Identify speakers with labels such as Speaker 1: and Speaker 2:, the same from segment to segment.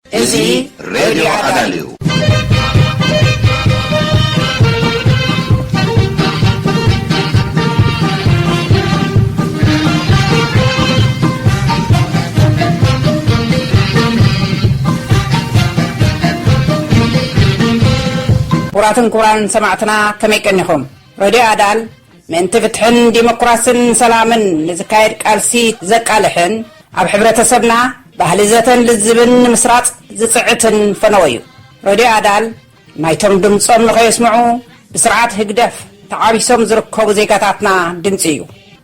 Speaker 1: እዚ ሬድዮ ኣዳል እዩ። ክቡራትን ክቡራንን ሰማዕትና ከመይ ቀኒኹም ረድዮ ኣዳል ምእንቲ ፍትሕን ዲሞክራስን ሰላምን ንዝካየድ ቃልሲ ዘቃልሕን ኣብ ሕብረተሰብና ባህሊ ዘተን ልዝብን ንምስራጽ ዝጽዕትን ፈነወ እዩ። ረድዮ ኣዳል ናይቶም ድምጾም ንኸየስምዑ ብስርዓት ህግደፍ ተዓቢሶም ዝርከቡ ዜጋታትና ድምጺ እዩ።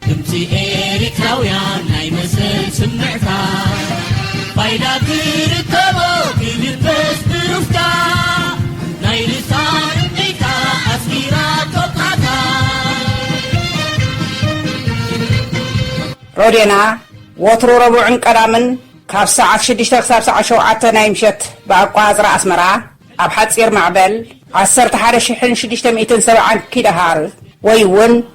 Speaker 1: ድምጺ ኤሪትራውያን ናይ መሰል ስምዕታ ባይዳ ትርከቦ ክልበስ ብሩፍታ። ናይ ልሳን እምቢታ ኣስሚራቶ ቃታ። ሮዴና ወትሩ ረቡዕን ቀዳምን ካብ ሰዓት ሽዱሽተ ክሳብ ሰዓት ሸውዓተ ናይ ምሸት ብኣቋፅራ ኣስመራ ኣብ ሓፂር ማዕበል ዓሰርተ ሓደ ሽሕን ሽዱሽተ ሚእትን ሰብዓን ኪሎሃርዝ ወይ እውን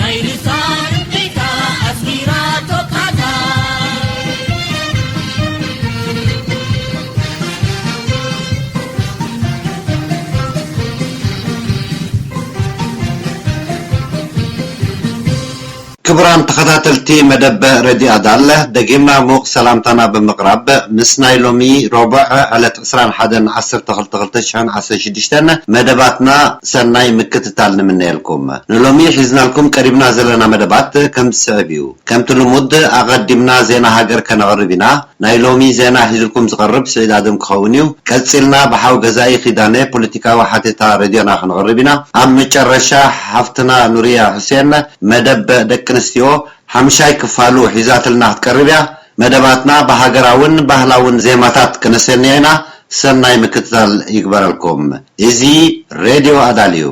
Speaker 1: ናይ ርታ ርብቃ ኣፍቂራቶ ቃዛ። ክቡራን ተኸታተልቲ መደብ ሬድዮ ኣዳል፣ ደጊምና ምዉቕ ሰላምታና ብምቕራብ፣ ምስ ናይ ሎሚ ሮቡዕ ዕለት ዕስራን ሓደን ዓሰርተ ክልተ ክልተ ሽሕን ዓሰርተ ሽዱሽተን መደባትና ሰናይ ምክትታል ንምነየልኩም። ንሎሚ ሒዝናልኩም ቀሪብና ዘለና መደባት ከም ዝስዕብ እዩ። ከምቲ ልሙድ ኣቐዲምና ዜና ሃገር ከነቕርብ ኢና። ናይ ሎሚ ዜና ሒዝልኩም ዝቐርብ ስዒድ ኣደም ክኸውን እዩ። ቀጺልና ብሓው ገዛኢ ኪዳነ ፖለቲካዊ ሓተታ ሬድዮና ክንቕርብ ኢና። ኣብ መጨረሻ ሓፍትና ኑርያ ሑሴን መደብ ደቂ ኣንስትዮ ሓምሻይ ክፋሉ ሒዛትልና ክትቀርብ እያ። መደባትና ብሃገራውን ባህላውን ዜማታት ክነሰንዮ ኢና ሰናይ ምክትታል ይግበረልኩም ኢዚ ሬድዮ ኣዳልዩ።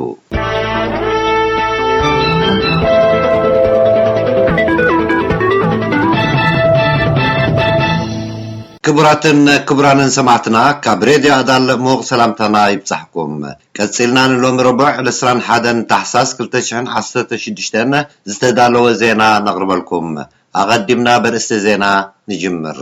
Speaker 1: ክቡራትን ክቡራንን ሰማዕትና ካብ ሬድዮ ኣዳል ምዉቕ ሰላምታና ይብጻሕኩም። ቀጺልና ንሎሚ ረቡዕ ዕስራን ሓደን ታሕሳስ ክልተ ሽሕን ዓሰርተ ሽዱሽተን ዝተዳለወ ዜና ነቕርበልኩም። ኣቐዲምና በርእስቲ ዜና ንጅምር።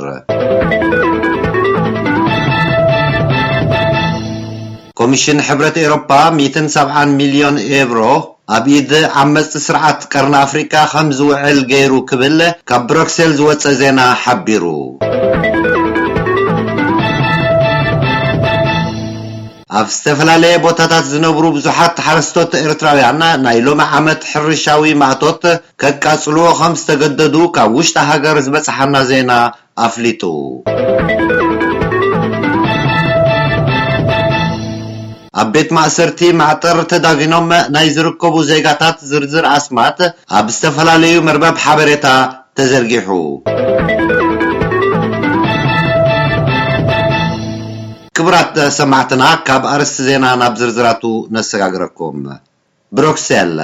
Speaker 1: ኮሚሽን ሕብረት ኤሮፓ ሚእትን ሰብዓን ሚልዮን ኤብሮ ኣብ ኢድ ዓመጽቲ ስርዓት ቀርኒ ኣፍሪቃ ከም ዝውዕል ገይሩ ክብል ካብ ብረክሴል ዝወጸ ዜና ሓቢሩ። ኣብ ዝተፈላለየ ቦታታት ዝነብሩ ብዙሓት ሓረስቶት ኤርትራውያን ናይ ሎሚ ዓመት ሕርሻዊ ማእቶት ከቃጽልዎ ከም ዝተገደዱ ካብ ውሽጢ ሃገር ዝበጽሓና ዜና ኣፍሊጡ። ኣብ ቤት ማእሰርቲ ማዕጠር ተዳጊኖም ናይ ዝርከቡ ዜጋታት ዝርዝር ኣስማት ኣብ ዝተፈላለዩ መርበብ ሓበሬታ ተዘርጊሑ። ክቡራት ሰማዕትና ካብ ኣርእስቲ ዜና ናብ ዝርዝራቱ ነሰጋግረኩም። ብሮክሰል፣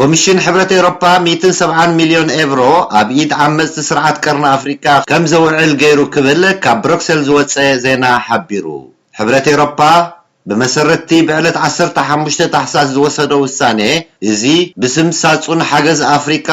Speaker 1: ኮሚሽን ሕብረት ኤውሮፓ ሚእትን ሰብዓን ሚልዮን ኤቭሮ ኣብ ኢድ ዓመጽቲ ስርዓት ቀርኒ ኣፍሪቃ ከም ዘውዕል ገይሩ ክብል ካብ ብሮክሰል ዝወጸ ዜና ሓቢሩ። ሕብረት ኤውሮፓ ብመሰረት'ቲ ብዕለት ዓሰርተ ሓሙሽተ ታሕሳስ ዝወሰዶ ውሳኔ እዚ ብስም ሳጹን ሓገዝ ኣፍሪቃ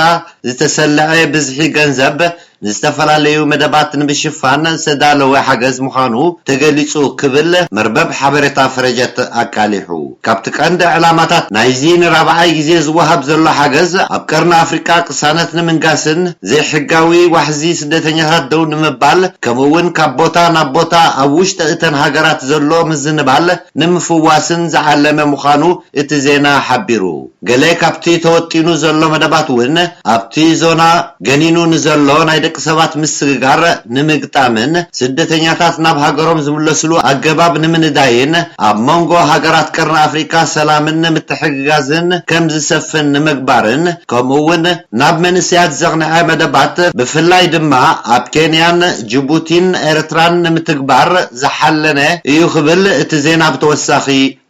Speaker 1: ዝተሰለዐ ብዝሒ ገንዘብ ንዝተፈላለዩ መደባት ንምሽፋን ዝተዳለወ ሓገዝ ምዃኑ ተገሊጹ ክብል መርበብ ሓበሬታ ፍረጀት ኣቃሊሑ። ካብቲ ቀንዲ ዕላማታት ናይዚ ንራብዓይ ግዜ ዝወሃብ ዘሎ ሓገዝ፣ ኣብ ቀርኒ ኣፍሪቃ ቅሳነት ንምንጋስን ዘይሕጋዊ ዋሕዚ ስደተኛታት ደው ንምባል ከምኡ'ውን ካብ ቦታ ናብ ቦታ ኣብ ውሽጢ እተን ሃገራት ዘሎ ምዝንባል ንምፍዋስን ዝዓለመ ምዃኑ እቲ ዜና ሓቢሩ። ገለ ካብቲ ተወጢኑ ዘሎ መደባት እውን ኣብቲ ዞና ገኒኑ ንዘሎ ናይ ደቂ ሰባት ምስግጋር ንምግጣምን ስደተኛታት ናብ ሃገሮም ዝምለስሉ ኣገባብ ንምንዳይን ኣብ መንጎ ሃገራት ቀርኒ ኣፍሪካ ሰላምን ምትሕግጋዝን ከምዝሰፍን ንምግባርን ከምኡ እውን ናብ መንእሰያት ዘቕንዐ መደባት ብፍላይ ድማ ኣብ ኬንያን ጅቡቲን ኤርትራን ንምትግባር ዝሓለነ እዩ ክብል እቲ ዜና ብተወሳኺ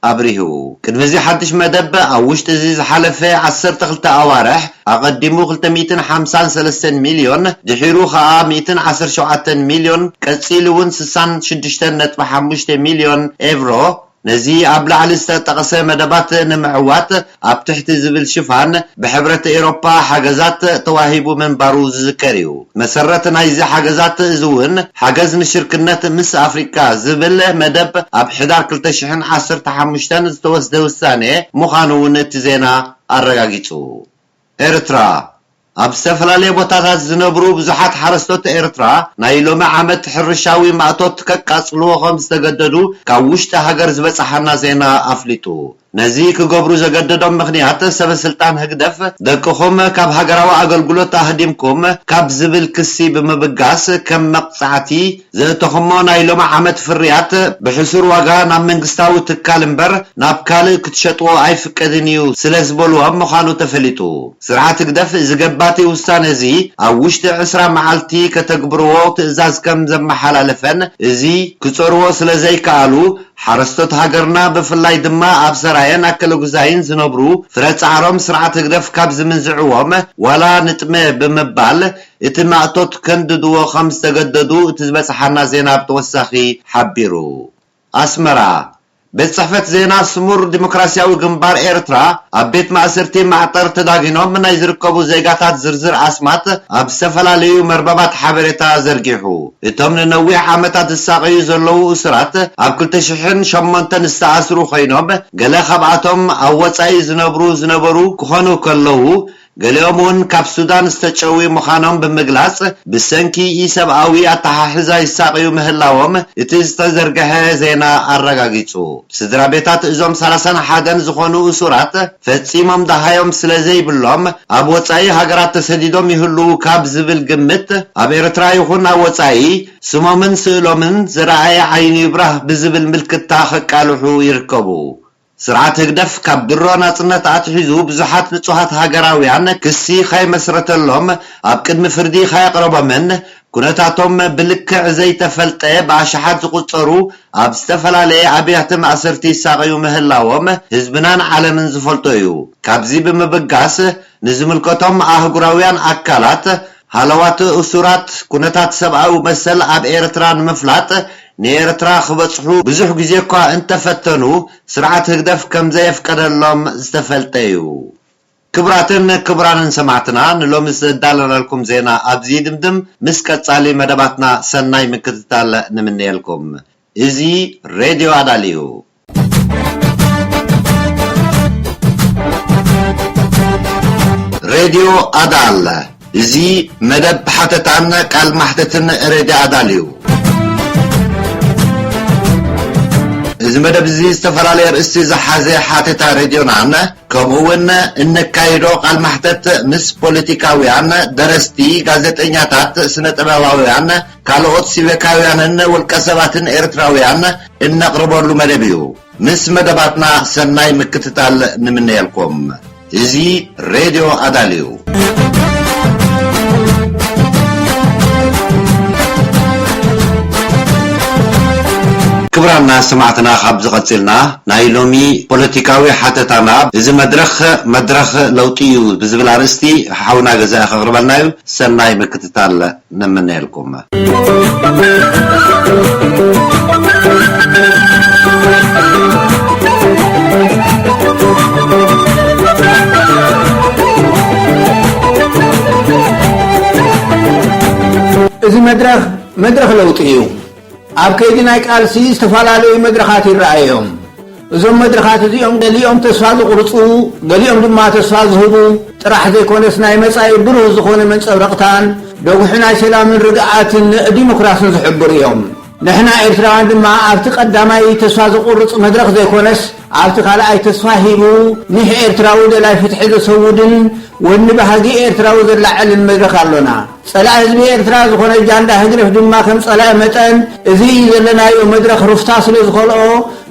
Speaker 1: ኣብሪሁ። ቅድሚ እዚ ሓድሽ መደብ፣ ኣብ ውሽጢ እዚ ዝሓለፈ ዓሰርተ ክልተ ኣዋርሕ፣ ኣቐዲሙ ክልተ ሚእትን ሓምሳን ሰለስተን ሚልዮን፣ ድሒሩ ከኣ ሚእትን ዓሰርተ ሸውዓተን ሚልዮን፣ ቀጺሉ'ውን ስሳን ሽዱሽተን ነጥቢ ሓሙሽተ ሚልዮን ኤቭሮ፣ ነዚ ኣብ ላዕሊ ዝተጠቕሰ መደባት ንምዕዋት፣ ኣብ ትሕቲ ዝብል ሽፋን ብሕብረት ኤሮፓ ሓገዛት ተዋሂቡ ምንባሩ ዝዝከር እዩ። መሰረት ናይዚ ሓገዛት እዚ እውን ሓገዝ ንሽርክነት ምስ ኣፍሪቃ ዝብል መደብ ኣብ ሕዳር ክልተ ሽሕን ዓሰርተ ሓሙሽተን ዝተወስደ ውሳኔ ምዃኑ እውን እቲ ዜና ኣረጋጊጹ። ኤርትራ። ኣብ ዝተፈላለየ ቦታታት ዝነብሩ ብዙሓት ሓረስቶት ኤርትራ ናይ ሎሚ ዓመት ሕርሻዊ ማእቶት ከቃጽልዎ ከም ዝተገደዱ ካብ ውሽጢ ሃገር ዝበጽሓና ዜና ኣፍሊጡ። ነዚ ክገብሩ ዘገደዶም ምኽንያት ሰበስልጣን ህግደፍ ደቅኹም ካብ ሃገራዊ ኣገልግሎት ኣህዲምኩም ካብ ዝብል ክሲ ብምብጋስ ከም መቕጻዕቲ ዘእተኹሞ ናይ ሎሚ ዓመት ፍርያት ብሕሱር ዋጋ ናብ መንግስታዊ ትካል እምበር ናብ ካልእ ክትሸጥዎ ኣይፍቀድን እዩ ስለዝበሉዎም ምዃኑ ተፈሊጡ። ስርዓት ህግደፍ እዚ ገባቲ ውሳነ'ዚ ኣብ ውሽጢ ዕስራ መዓልቲ ከተግብርዎ ትእዛዝ ከም ዘመሓላለፈን እዚ ክጸርዎ ስለዘይከኣሉ ሓረስቶት ሃገርና ብፍላይ ድማ ኣብ ሰራየን ኣከለጉዛይን ዝነብሩ ፍረ ጻዕሮም ስርዓት ህግደፍ ካብ ዝምንዝዕዎም ዋላ ንጥመ ብምባል እቲ ማእቶት ከንድድዎ ከም ዝተገደዱ እቲ ዝበጽሓና ዜና ብተወሳኺ ሓቢሩ። ኣስመራ፣ ቤት ጽሕፈት ዜና ስሙር ዲሞክራስያዊ ግንባር ኤርትራ፣ ኣብ ቤት ማእሰርቲ ማዕጠር ተዳጒኖም ናይ ዝርከቡ ዜጋታት ዝርዝር ኣስማት ኣብ ዝተፈላለዩ መርበባት ሓበሬታ ዘርጊሑ። እቶም ንነዊሕ ዓመታት ዝሳቐዩ ዘለዉ እሱራት ኣብ ክልተ ሽሕን ሸሞንተን ዝተኣስሩ ኮይኖም፣ ገለ ካብኣቶም ኣብ ወጻኢ ዝነብሩ ዝነበሩ ክኾኑ ከለዉ፣ ገሊኦም እውን ካብ ሱዳን ዝተጨውዩ ምዃኖም ብምግላጽ፣ ብሰንኪ ኢ-ሰብኣዊ ኣተሓሕዛ ይሳቐዩ ምህላዎም እቲ ዝተዘርገሐ ዜና ኣረጋጊጹ። ስድራቤታት እዞም ሰላሳን ሓደን ዝኾኑ እሱራት፣ ፈጺሞም ደሃዮም ስለ ዘይብሎም ኣብ ወጻኢ ሃገራት ተሰዲዶም ይህልዉ ካብ ዝብል ግምት፣ ኣብ ኤርትራ ይኹን ኣብ ወጻኢ ስሞምን ስእሎምን ዝረኣየ ዓይኑ ይብራህ ብዝብል ምልክታ ከቃልሑ ይርከቡ። ስርዓት ህግደፍ ካብ ድሮ ናጽነት ኣትሒዙ ብዙሓት ንጹሃት ሃገራውያን ክሲ ከይመስረተሎም ኣብ ቅድሚ ፍርዲ ከየቕረቦምን ኩነታቶም ብልክዕ ዘይተፈልጠ ብኣሽሓት ዝቑጸሩ ኣብ ዝተፈላለየ ኣብያተ ማእሰርቲ ይሳቐዩ ምህላዎም ህዝብናን ዓለምን ዝፈልጦ እዩ። ካብዚ ብምብጋስ ንዝምልከቶም ኣህጉራውያን ኣካላት ሃለዋት እሱራት፣ ኩነታት ሰብኣዊ መሰል ኣብ ኤርትራ ንምፍላጥ ንኤርትራ ክበጽሑ ብዙሕ ግዜ'ኳ እንተፈተኑ፣ ስርዓት ህግደፍ ከምዘየፍቀደሎም ዝተፈልጠ'ዩ። ክብራትን ክብራንን ሰማዕትና፣ ንሎሚ ዘዳለናልኩም ዜና ኣብዚ ይድምድም። ምስ ቀጻሊ መደባትና ሰናይ ምክትታል ንምነየልኩም። እዚ ሬድዮ ኣዳል እዩ። ሬድዮ ኣዳል እዚ መደብ ሓተታን ቃል ማሕተትን ሬድዮ ኣዳል እዩ። እዚ መደብ እዚ ዝተፈላለየ ኣርእስቲ ዝሓዘ ሓተታ ሬድዮናን ከምኡ እውን እነካይዶ ቃል ማሕተት ምስ ፖለቲካውያን፣ ደረስቲ፣ ጋዜጠኛታት፣ ስነ ጥበባውያን፣ ካልኦት ሲቨካውያንን ውልቀሰባትን ኤርትራውያን እነቕርበሉ መደብ እዩ። ምስ መደባትና ሰናይ ምክትታል ንምነየልኩም። እዚ ሬድዮ ኣዳል እዩ። ክብራና ሰማዕትና ካብዚ ቀጺልና ናይ ሎሚ ፖለቲካዊ ሓተታና እዚ መድረኽ መድረኽ ለውጢ እዩ ብዝብል ኣርእስቲ ሓውና ገዛኢ ከቕርበልና እዩ። ሰናይ ምክትታል። ንምነየልኩም።
Speaker 2: እዚ መድረኽ መድረኽ ለውጢ እዩ። ኣብ ከይዲ ናይ ቃልሲ ዝተፈላለዩ መድረኻት ይረኣዩ እዮም። እዞም መድረኻት እዚኦም ገሊኦም ተስፋ ዘቑርፁ ገሊኦም ድማ ተስፋ ዝህቡ ጥራሕ ዘይኮነስ ናይ መፃኢ ብሩህ ዝኾነ መንፀብረቕታን ደጉሒ ናይ ሰላምን ርግኣትን ንዲሞክራስን ዝሕብሩ እዮም። ንሕና ኤርትራውያን ድማ ኣብቲ ቀዳማይ ተስፋ ዘቑርፅ መድረኽ ዘይኮነስ ኣብቲ ካልኣይ ተስፋ ሂቡ ኒሕ ኤርትራዊ ደላይ ፍትሒ ዘሰውድን ወኒ ባህጊ ኤርትራዊ ዘላዕልን መድረኽ ኣሎና። ጸላኢ ህዝቢ ኤርትራ ዝኾነ ጃንዳ ህግደፍ ድማ ከም ጸላኢ መጠን እዚ ዘለናዮ መድረኽ ሩፍታ ስለ ዝኸልኦ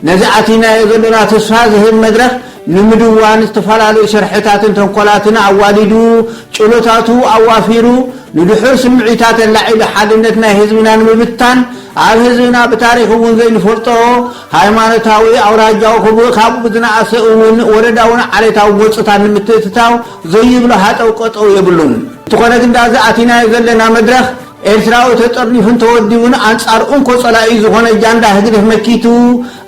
Speaker 2: ነዚ ኣቲናዮ ዘሎና ተስፋ ዝህብ መድረኽ ንምድዋን ዝተፈላለዩ ሸርሕታትን ተንኮላትን ኣዋዲዱ ጭሎታቱ ኣዋፊሩ ንድሑር ስምዒታት ኣላዒሉ ሓድነት ናይ ህዝብና ንምብታን ኣብ ህዝብና ብታሪኽ እውን ዘይንፈልጦ ሃይማኖታዊ ኣውራጃዊ ክብ ካብ ዝነኣሰ እውን ወረዳውን ዓሌታዊ ጎንጽታት ንምትእትታው ዘይብሎ ሃጠው ቀጠው የብሉን። እንተኾነ ግን ዳኣ እዚ ኣቲናዮ ዘለና መድረኽ ኤርትራዊ ተጠርኒፉን ተወዲቡን ኣንጻር እንኮ ጸላኢኡ ዝኾነ ጃንዳ ህግደፍ መኪቱ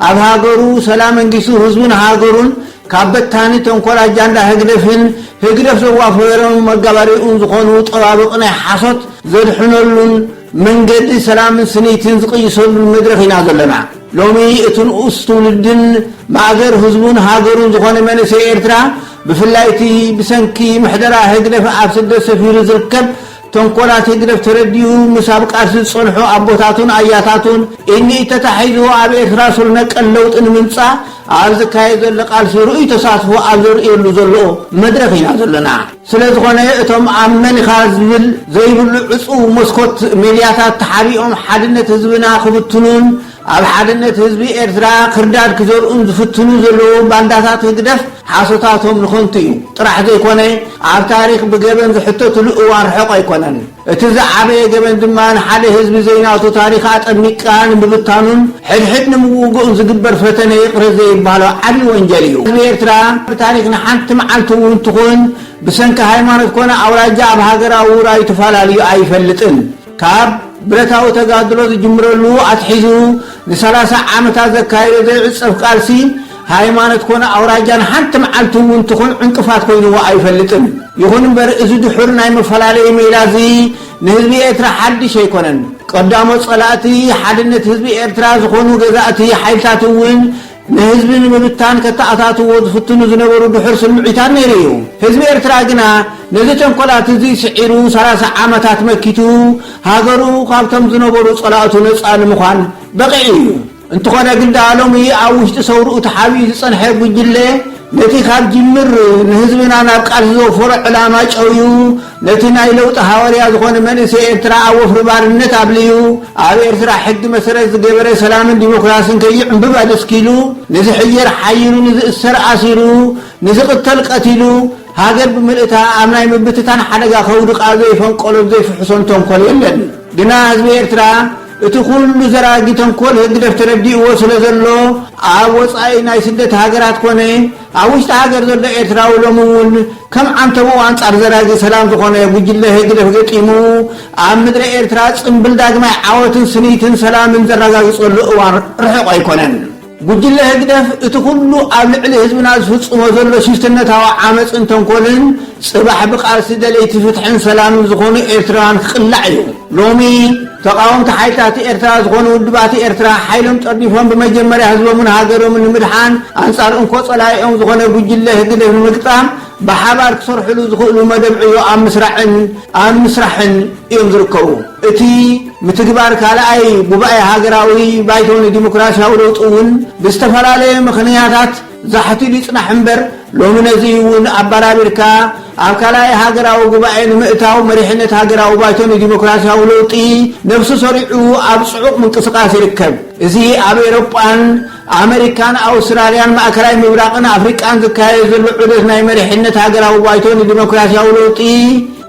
Speaker 2: ኣብ ሃገሩ ሰላም ኣንጊሱ ህዝቡን ሃገሩን ካብ በታኒ ተንኮል ኣጃንዳ ህግደፍን ህግደፍ ዘዋፈሮም መጋባርያኡን ዝኾኑ ጠባብቕ ናይ ሓሶት ዘድሕነሉን መንገዲ ሰላምን ስኒትን ዝቕይሰሉን መድረኽ ኢና ዘለና። ሎሚ እቲ ንኡስ ትውልድን ማእገር ህዝቡን ሃገሩን ዝኾነ መንእሰይ ኤርትራ ብፍላይ እቲ ብሰንኪ ምሕደራ ህግደፍ ኣብ ስደት ሰፊሩ ዝርከብ ተንኮላት ህግደፍ ተረዲኡ ምስ ኣብ ቃልሲ ዝጸንሑ ኣቦታቱን ኣያታቱን ኢድ ንኢድ ተታሒዙ ኣብ ኤርትራ ሱር ነቀል ለውጢ ንምምጻእ ኣብ ዝካየድ ዘሎ ቃልሲ ርኡይ ተሳትፎ ኣብ ዘርእየሉ ዘሎ መድረኽ ኢና ዘለና። ስለዝኾነ እቶም ኣብ መን ኢኻ ዝብል ዘይብሉ ዕጹው መስኮት ሜድያታት ተሓቢኦም ሓድነት ህዝብና ክብትኑን ኣብ ሓድነት ህዝቢ ኤርትራ ክርዳድ ክዘርኡን ዝፍትኑ ዘለዉ ባንዳታት ህግደፍ ሓሶታቶም ንኸንቱ እዩ ጥራሕ ዘይኮነ ኣብ ታሪኽ ብገበን ዝሕተትሉ እዋን ርሑቕ ኣይኮነን። እቲ ዝዓበየ ገበን ድማ ንሓደ ህዝቢ ዘይናቱ ታሪኽ ኣጠሚቅቃ ንምብታኑን ሕድሕድ ንምውግኡን ዝግበር ፈተነ ይቕረ ዘይባሎ ዓቢ ወንጀል እዩ። ህዝቢ ኤርትራ ብታሪኽ ንሓንቲ መዓልቲ እውን ትኹን ብሰንኪ ሃይማኖት ኮነ ኣውራጃ ኣብ ሃገራዊ ውራዩ ተፋላልዩ ኣይፈልጥን። ካብ ብረታዊ ተጋድሎ ዝጅምረሉ ኣትሒዙ ንሰላሳ ዓመታት ዘካየዶ ዘይዕጸፍ ቃልሲ፣ ሃይማኖት ኮነ ኣውራጃ ንሓንቲ መዓልቲ እውን ትኹን ዕንቅፋት ኮይንዎ ኣይፈልጥን። ይኹን እምበር እዚ ድሑር ናይ መፈላለዪ ሜላ እዚ ንህዝቢ ኤርትራ ሓድሽ ኣይኮነን። ቀዳሞት ጸላእቲ ሓድነት ህዝቢ ኤርትራ ዝኾኑ ገዛእቲ ሓይልታት እውን ንህዝቢ ንምብታን ከተኣታትዎ ዝፍትኑ ዝነበሩ ድሑር ስምዒታት ነይሩ እዩ። ህዝቢ ኤርትራ ግና ነዚ ተንኮላት እዚ ስዒሩ ሰላሳ ዓመታት መኪቱ ሃገሩ ካብቶም ዝነበሩ ጸላእቱ ነጻ ንምዃን በቒዑ እዩ። እንተኾነ ግዳ ሎሚ ኣብ ውሽጢ ሰውርኡ ተሓቢኡ ዝጸንሐ ጉጅለ ነቲ ካብ ጅምር ንህዝብና ናብ ቃልሲ ዘውፈሮ ዕላማ ጨውዩ ነቲ ናይ ለውጢ ሃዋርያ ዝኾነ መንእሰይ ኤርትራ ኣብ ወፍሪ ባርነት ኣብልዩ፣ ኣብ ኤርትራ ሕጊ መሰረት ዝገበረ ሰላምን ዲሞክራስን ከይዕምብብ ኣደስኪሉ፣ ንዝሕየር ሓይሩ፣ ንዝእሰር ኣሲሩ፣ ንዝቕተል ቀቲሉ፣ ሃገር ብምልእታ ኣብ ናይ ምብትታን ሓደጋ ከውድቓ ዘይፈንቀሎን ዘይፍሕሶን ተንኮል የለን። ግና ህዝቢ ኤርትራ እቲ ኩሉ ዘራጊ ተንኮል ህግደፍ ተረዲእዎ ስለዘሎ፣ ኣብ ወጻኢ ናይ ስደት ሃገራት ኮነ፣ ኣብ ውሽጢ ሃገር ዘሎ ኤርትራዊ ሎሚ እውን ከም ዓንተቦኡ ኣንጻር ዘራጊ ሰላም ዝኾነ ጉጅለ ህግደፍ ገጢሙ ኣብ ምድረ ኤርትራ ጽምብል ዳግማይ ዓወትን ስኒትን ሰላምን ዘራጋግጸሉ እዋን ርሑቕ ኣይኮነን። ጉጅለ ህግደፍ እቲ ኩሉ ኣብ ልዕሊ ህዝብና ዝፍጽሞ ዘሎ ሽፍትነታዊ ዓመጽን ተንኮልን ጽባሕ ብቃልሲ ደለይቲ ፍትሕን ሰላምን ዝኾኑ ኤርትራውያን ክቅላዕ እዩ። ሎሚ። ተቓወምቲ ሓይልታት ኤርትራ ዝኾኑ ውድባት ኤርትራ ሓይሎም ጸርዲፎም ብመጀመርያ ህዝቦምን ሃገሮምን ንምድሓን ኣንጻር እንኮ ጸላኢኦም ዝኾነ ጉጅለ ህግደፍ ንምግጣም ብሓባር ክሰርሕሉ ዝኽእሉ መደብ ዕዮ ኣብ ምስራዕን ኣብ ምስራሕን እዮም ዝርከቡ። እቲ ምትግባር ካልኣይ ጉባኤ ሃገራዊ ባይቶ ንዲሞክራስያዊ ለውጢ'ውን ብዝተፈላለየ ምኽንያታት ዛሕቲሉ ይጽናሕ እምበር ሎሚ ነዚ'ውን ኣበራቢርካ ኣብ ካልኣይ ሃገራዊ ጉባኤ ንምእታው መሪሕነት ሃገራዊ ባይቶ ንዲሞክራስያዊ ለውጢ ነብሱ ሰሪዑ ኣብ ጽዑቕ ምንቅስቓስ ይርከብ። እዚ ኣብ ኤሮጳን ኣመሪካን ኣውስትራልያን ማእከላይ ምብራቕን ኣፍሪቃን ዝካየድ ዘሎ ዑደት ናይ መሪሕነት ሃገራዊ ባይቶ ንዲሞክራስያዊ ለውጢ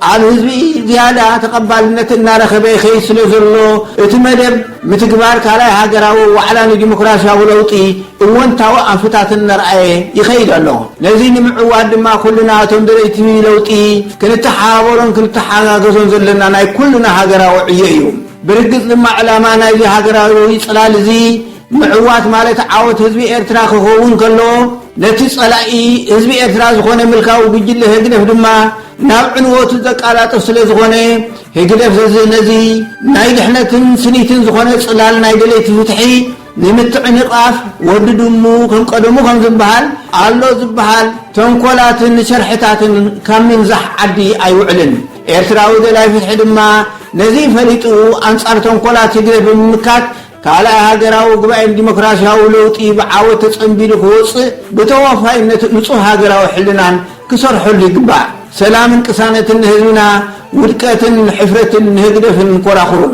Speaker 2: ኣብ ህዝቢ ዝያዳ ተቐባልነት እናረኸበ ይኸይድ ስለዘሎ እቲ መደብ ምትግባር ካልኣይ ሃገራዊ ዋዕላ ንዲሞክራሲያዊ ለውጢ እወንታዊ ኣንፍታት እናርኣየ ይኸይድ ኣሎ። ነዚ ንምዕዋት ድማ ኩልና እቶም ደለይቲ ለውጢ ክንተሓባበሮን ክንተሓጋገዞን ዘለና ናይ ኩልና ሃገራዊ ዕዮ እዩ። ብርግጽ ድማ ዕላማ ናይዚ ሃገራዊ ጽላል እዚ ምዕዋት ማለት ዓወት ህዝቢ ኤርትራ ክኸውን ከሎ ነቲ ጸላኢ ህዝቢ ኤርትራ ዝኾነ ምልካዊ ጉጅለ ህግደፍ ድማ ናብ ዕንወቱ ዘቃላጥፍ ስለዝኾነ ህግደፍ ዘዚ ነዚ ናይ ድሕነትን ስኒትን ዝኾነ ጽላል ናይ ደለይቲ ፍትሒ ንምትዕንቓፍ ወዲ ድሙ ከም ቀደሙ ከም ዝበሃል ኣሎ ዝበሃል ተንኮላትን ሸርሕታትን ካብ ምንዛሕ ዓዲ ኣይውዕልን። ኤርትራዊ ደላይ ፍትሒ ድማ ነዚ ፈሊጡ ኣንጻር ተንኮላት ህግደፍ ብምምካት ካልኣይ ሃገራዊ ጉባኤ ንዲሞክራሲያዊ ለውጢ ብዓወት ተጸንቢሉ ክወጽእ ብተወፋይነትን ንጹህ ሃገራዊ ሕልናን ክሰርሐሉ ይግባእ። ሰላምን ቅሳነትን ንህዝብና፣ ውድቀትን ሕፍረትን ንህግደፍን ኮራኹሩን።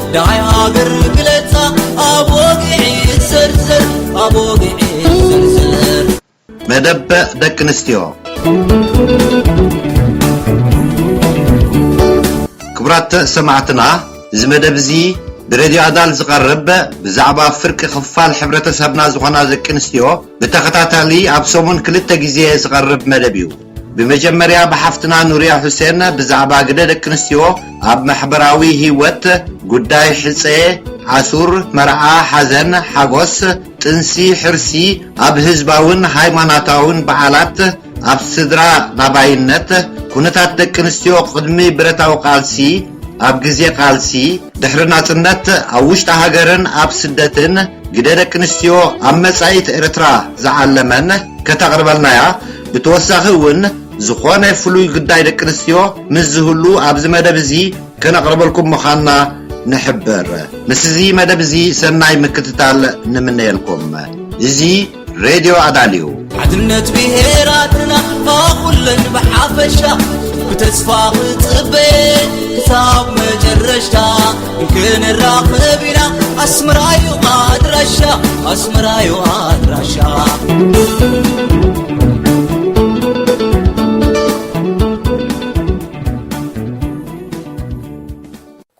Speaker 3: ደሃይ ሃገር ግለጻ ኣብ ወግዒ ዘርዘር ኣብ ወግዒ ዘርዘር መደብ
Speaker 1: ደቂ ኣንስትዮ ክቡራት ሰማዕትና እዚ መደብ እዚ ብሬድዮ ኣዳል ዝቐርብ ብዛዕባ ፍርቂ ክፋል ሕብረተሰብና ዝኾና ደቂ ኣንስትዮ ብተኸታታሊ ኣብ ሰሙን ክልተ ግዜ ዝቐርብ መደብ እዩ። ብመጀመርያ ብሓፍትና ኑርያ ሑሴን ብዛዕባ ግደ ደቂ ኣንስትዮ ኣብ ማሕበራዊ ሂወት፣ ጉዳይ ሕጸ፣ ኣሱር፣ መርዓ፣ ሓዘን፣ ሓጎስ፣ ጥንሲ፣ ሕርሲ፣ ኣብ ህዝባውን ሃይማናታውን በዓላት፣ ኣብ ስድራ ናባይነት፣ ኩነታት ደቂ ኣንስትዮ ቅድሚ ብረታዊ ቃልሲ፣ ኣብ ግዜ ቃልሲ፣ ድሕሪ ናጽነት፣ ኣብ ውሽጢ ሃገርን ኣብ ስደትን፣ ግደ ደቂ ኣንስትዮ ኣብ መጻኢት ኤርትራ ዝዓለመን ከተቕርበልናያ ብተወሳኺ እውን ዝኾነ ፍሉይ ግዳይ ደቂ ኣንስትዮ ምስ ዝህሉ ኣብዚ መደብ እዚ ከነቕርበልኩም ምዃንና ንሕብር። ምስ እዚ መደብ እዚ ሰናይ ምክትታል ንምነየልኩም። እዚ ሬድዮ ኣዳል እዩ። ሓድነት
Speaker 3: ብሄራትና ኩለን ብሓፈሻ ብተስፋ ክፅበ ክሳብ መጨረሻ ክንራኸብ ኢና ኣስመራዩ ኣድራሻ ኣስመራዩ ኣድራሻ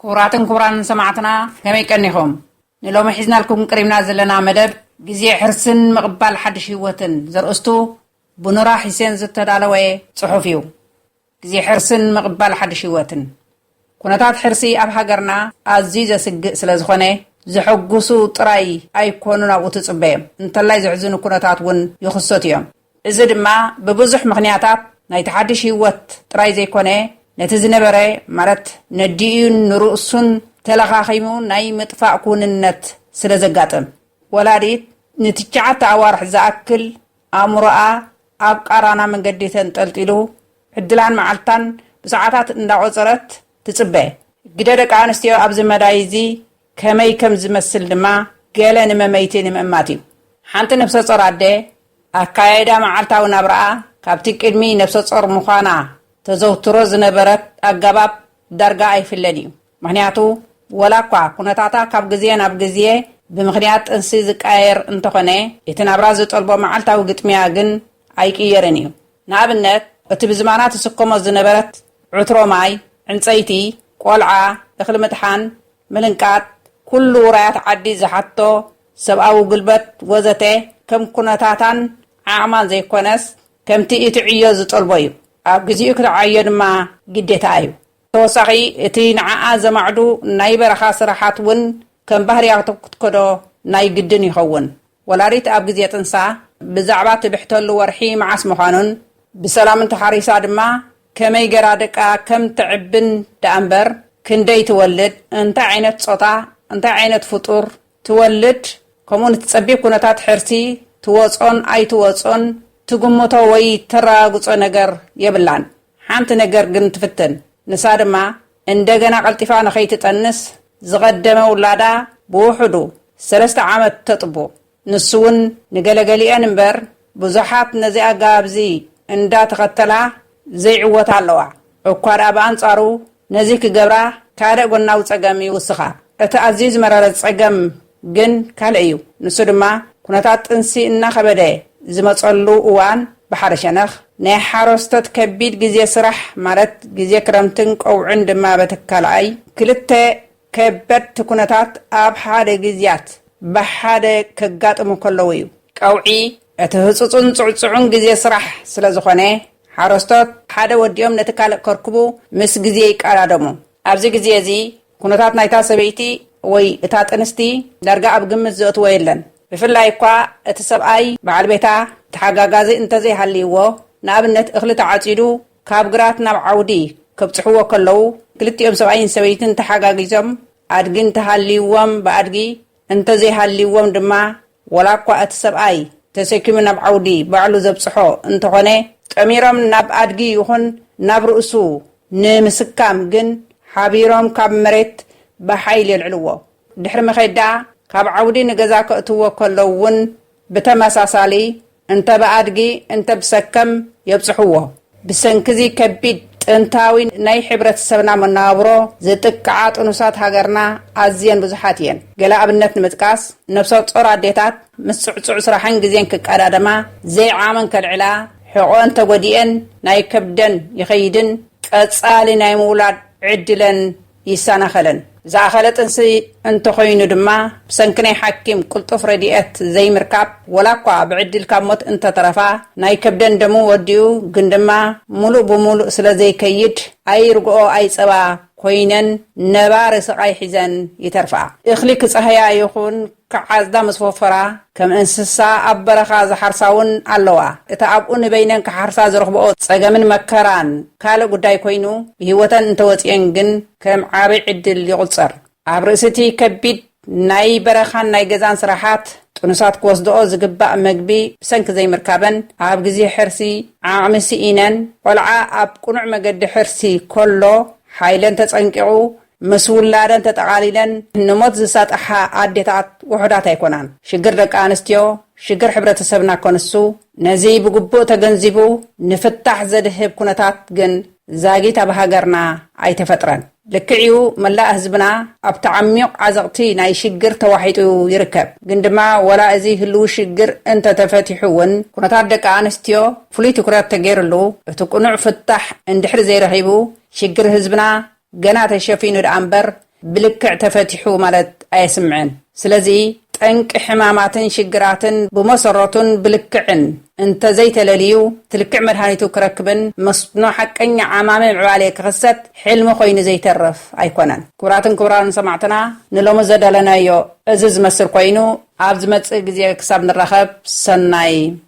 Speaker 4: ክቡራትን ክቡራንን ሰማዕትና ከመይ ቀኒኹም ንሎሚ ሒዝናልኩም ቅሪብና ዘለና መደብ ግዜ ሕርስን ምቕባል ሓድሽ ህይወትን ዘርእስቱ ብኑራ ሒሴን ዝተዳለወ ጽሑፍ እዩ ግዜ ሕርስን ምቕባል ሓድሽ ህይወትን። ኩነታት ሕርሲ ኣብ ሃገርና ኣዝዩ ዘስግእ ስለ ዝኾነ፣ ዘሐጉሱ ጥራይ ኣይኮኑን ኣብኡ ትጽበዮም፣ እንተላይ ዘሕዝኑ ኩነታት እውን ይኽሰቱ እዮም። እዚ ድማ ብብዙሕ ምኽንያታት ናይቲ ሓድሽ ህይወት ጥራይ ዘይኮነ፣ ነቲ ዝነበረ ማለት ነዲኡን ንርእሱን ተለኻኺሙ ናይ ምጥፋእ ክውንነት ስለ ዘጋጥም። ወላዲት ንትሽዓተ ኣዋርሕ ዝኣክል ኣእምሮኣ ኣብ ቃራና መንገዲ ተንጠልጢሉ፣ ዕድላን መዓልታን ብሰዓታት እንዳቖጸረት ትጽበ። ግደ ደቂ ኣንስትዮ ኣብዚ መዳይ እዚ ከመይ ከም ዝመስል ድማ ገለ ንመመይቲ ንምእማት እዩ። ሓንቲ ነፍሰጾር ኣደ፣ ኣካያይዳ መዓልታዊ ናብራኣ ካብቲ ቅድሚ ነፍሰጾር ምዃና ተዘውትሮ ዝነበረት ኣገባብ ዳርጋ ኣይፍለን እዩ። ምኽንያቱ ወላኳ ኩነታታ ካብ ግዜ ናብ ግዜ ብምኽንያት ጥንሲ ዝቀያየር እንተኾነ እቲ ናብራ ዝጠልቦ መዓልታዊ ግጥሚያ ግን ኣይቅየርን እዩ። ንኣብነት እቲ ብዝማና ትስከሞ ዝነበረት ዕትሮ ማይ፣ ዕንጸይቲ፣ ቆልዓ፣ እኽሊ ምጥሓን፣ ምልንቃጥ፣ ኩሉ ውራያት ዓዲ ዝሓትቶ ሰብኣዊ ጉልበት ወዘተ ከም ኩነታታን ዓቕማን ዘይኮነስ ከምቲ እቲ ዕዮ ዝጠልቦ እዩ። ኣብ ግዚኡ ክትዓዮ ድማ ግዴታኣ እዩ። ብተወሳኺ እቲ ንዓኣ ዘማዕዱ ናይ በረኻ ስራሓት ውን ከም ባህርያቱ ክትከዶ ናይ ግድን ይኸውን። ወላዲት ኣብ ግዜ ጥንሳ ብዛዕባ ትብሕተሉ ወርሒ መዓስ ምዃኑን፣ ብሰላም እንተሓሪሳ ድማ ከመይ ገራ ደቃ ከም ተዕብን ደኣምበር ክንደይ ትወልድ፣ እንታይ ዓይነት ጾታ፣ እንታይ ዓይነት ፍጡር፣ ትወልድ ከምኡ ንትጸቢብ ኩነታት ሕርሲ ትወጾን ኣይትወጾን ትግምቶ ወይ ተራጋግጾ ነገር የብላን። ሓንቲ ነገር ግን ትፍትን ንሳ ድማ እንደገና ቀልጢፋ ንኸይትጠንስ ዝቐደመ ውላዳ ብውሑዱ ሰለስተ ዓመት ተጥቡ። ንሱ ውን ንገለገሊኤን እምበር ብዙሓት ነዚ ኣገባብ እዚ እንዳ ተኸተላ ዘይዕወታ ኣለዋ። እኳ ድኣ ብኣንጻሩ ነዚ ክገብራ ካልእ ጎናዊ ጸገም ይውስኻ። እቲ ኣዝዩ ዝመረረ ጸገም ግን ካልእ እዩ። ንሱ ድማ ኩነታት ጥንሲ እናኸበደ ዝመጸሉ እዋን ብሓደ ሸነኽ ናይ ሓረስቶት ከቢድ ግዜ ስራሕ ማለት ግዜ ክረምትን ቀውዕን ድማ በቲ ካልኣይ ክልተ ከበድቲ ኩነታት ኣብ ሓደ ግዝያት ብሓደ ከጋጥሙ ከለዉ እዩ። ቀውዒ እቲ ህጹጽን ጽዕጹዕን ግዜ ስራሕ ስለ ዝኾነ፣ ሓረስቶት ሓደ ወዲኦም ነቲ ካልእ ከርክቡ ምስ ግዜ ይቀዳደሙ። ኣብዚ ግዜ እዚ ኩነታት ናይታ ሰበይቲ ወይ እታ ጥንስቲ ዳርጋ ኣብ ግምት ዘእትዎ የለን። ብፍላይ እኳ እቲ ሰብኣይ፣ በዓል ቤታ፣ ተሓጋጋዚ እንተ ዘይሃልይዎ፣ ንኣብነት እኽሊ ተዓጺዱ ካብ ግራት ናብ ዓውዲ ከብጽሕዎ ከለዉ፣ ክልቲኦም ሰብኣይን ሰበይትን ተሓጋጊዞም ኣድጊ እንተ ሃልይዎም ብኣድጊ እንተ ዘይሃልይዎም ድማ ወላ እኳ እቲ ሰብኣይ ተሰኪሙ ናብ ዓውዲ ባዕሉ ዘብጽሖ እንተኾነ፣ ጠሚሮም ናብ ኣድጊ ይኹን ናብ ርእሱ ንምስካም ግን ሓቢሮም ካብ መሬት ብሓይሊ የልዕልዎ። ድሕሪ ምዄት ደኣ ካብ ዓውዲ ንገዛ ከእትዎ ከለዉ እውን ብተመሳሳሊ እንተ ብኣድጊ እንተ ብሰከም የብጽሕዎ። ብሰንኪ'ዚ ከቢድ ጥንታዊ ናይ ሕብረተሰብና መነባብሮ ዝጥቅዓ ጥኑሳት ሃገርና ኣዝየን ብዙሓት እየን። ገለ ኣብነት ንምጥቃስ፣ ነብሰጾር ኣዴታት ምስ ጽዕጹዕ ስራሕን ግዜን ክቀዳደማ፣ ዘይዓመን ከልዕላ፣ ሕቖኣን ተጎዲኤን ናይ ከብደን ይኸይድን ቀጻሊ ናይ ምውላድ ዕድለን ይሰናኸለን። ዝኣኸለ ጥንሲ እንተኾይኑ ድማ ብሰንኪ ናይ ሓኪም ቅልጡፍ ረድኤት ዘይምርካብ ወላኳ ብዕድል ካብ ሞት እንተተረፋ ናይ ከብደን ደሙ ወዲኡ ግን ድማ ሙሉእ ብሙሉእ ስለዘይከይድ ኣይ ርግኦ ኣይ ፀባ ኮይነን ነባሪ ስቓይ ሒዘን ይተርፋ። እኽሊ ክፀህያ ይኹን ክዓጽዳ ምስ ወፈራ፣ ከም እንስሳ ኣብ በረኻ ዝሓርሳ'ውን ኣለዋ። እቲ ኣብኡ ንበይነን ክሓርሳ ዝረኽብኦ ጸገምን መከራን ካልእ ጉዳይ ኰይኑ፣ ብህይወተን እንተወጺኤን ግን ከም ዓቢ ዕድል ይቝጸር። ኣብ ርእሲ'ቲ ከቢድ ናይ በረኻን ናይ ገዛን ስራሓት፣ ጥኑሳት ክወስድኦ ዝግባእ መግቢ ብሰንኪ ዘይምርካበን፣ ኣብ ግዜ ሕርሲ ዓቕሚ ስኢነን፣ ቈልዓ ኣብ ቅኑዕ መገዲ ሕርሲ ከሎ ሓይለን ተጸንቂቑ ምስ ውላደን ተጠቓሊለን ንሞት ዝሳጥሓ ኣዴታት ውሑዳት ኣይኮናን። ሽግር ደቂ ኣንስትዮ፣ ሽግር ሕብረተሰብና ከንሱ፣ ነዚ ብግቡእ ተገንዚቡ ንፍታሕ ዘድህብ ኩነታት ግን ዛጊት ኣብ ሃገርና ኣይተፈጥረን። ልክዕ'ዩ መላእ ህዝብና ኣብቲ ዓሚዩቕ ዓዘቕቲ ናይ ሽግር ተዋሒጡ ይርከብ። ግን ድማ ወላ እዚ ህልዊ ሽግር እንተተፈቲሑ እውን ኩነታት ደቂ ኣንስትዮ ፍሉይ ትኩረት ተገይርሉ እቲ ቅኑዕ ፍታሕ እንድሕሪ ዘይረኺቡ ሽግር ህዝብና ገና ተሸፊኑ ደኣ እምበር ብልክዕ ተፈቲሑ ማለት ኣየስምዕን። ስለዚ ጠንቂ ሕማማትን ሽግራትን ብመሰረቱን ብልክዕን እንተዘይተለልዩ ትልክዕ መድሃኒቱ ክረክብን መስኖ ሓቀኛ ዓማሚ ምዕባሌ ክኽሰት ሕልሚ ኮይኑ ዘይተርፍ ኣይኮነን። ክቡራትን ክቡራንን ሰማዕትና ንሎሚ ዘደለናዮ እዚ ዝመስል ኮይኑ ኣብ ዝመጽእ ግዜ ክሳብ ንራኸብ ሰናይ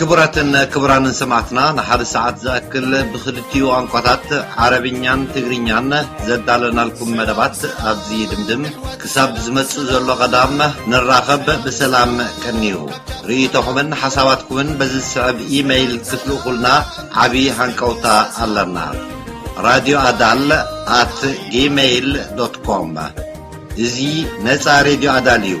Speaker 1: ክቡራትን ክቡራንን ሰማዕትና ንሓደ ሰዓት ዝኣክል ብክልቲኡ ቋንቋታት ዓረብኛን ትግርኛን ዘዳለናልኩም መደባት ኣብዚ ይድምድም። ክሳብ ዝመጽእ ዘሎ ቀዳም ንራኸብ ብሰላም ቀንዩ። ርእይቶኹምን ሓሳባትኩምን በዚ ዝስዕብ ኢመይል ክትልእኹልና ዓቢ ሃንቀውታ ኣለና። ራድዮ ኣዳል ኣት ጂመይል ዶት ኮም እዚ ነጻ ሬድዮ ኣዳል እዩ።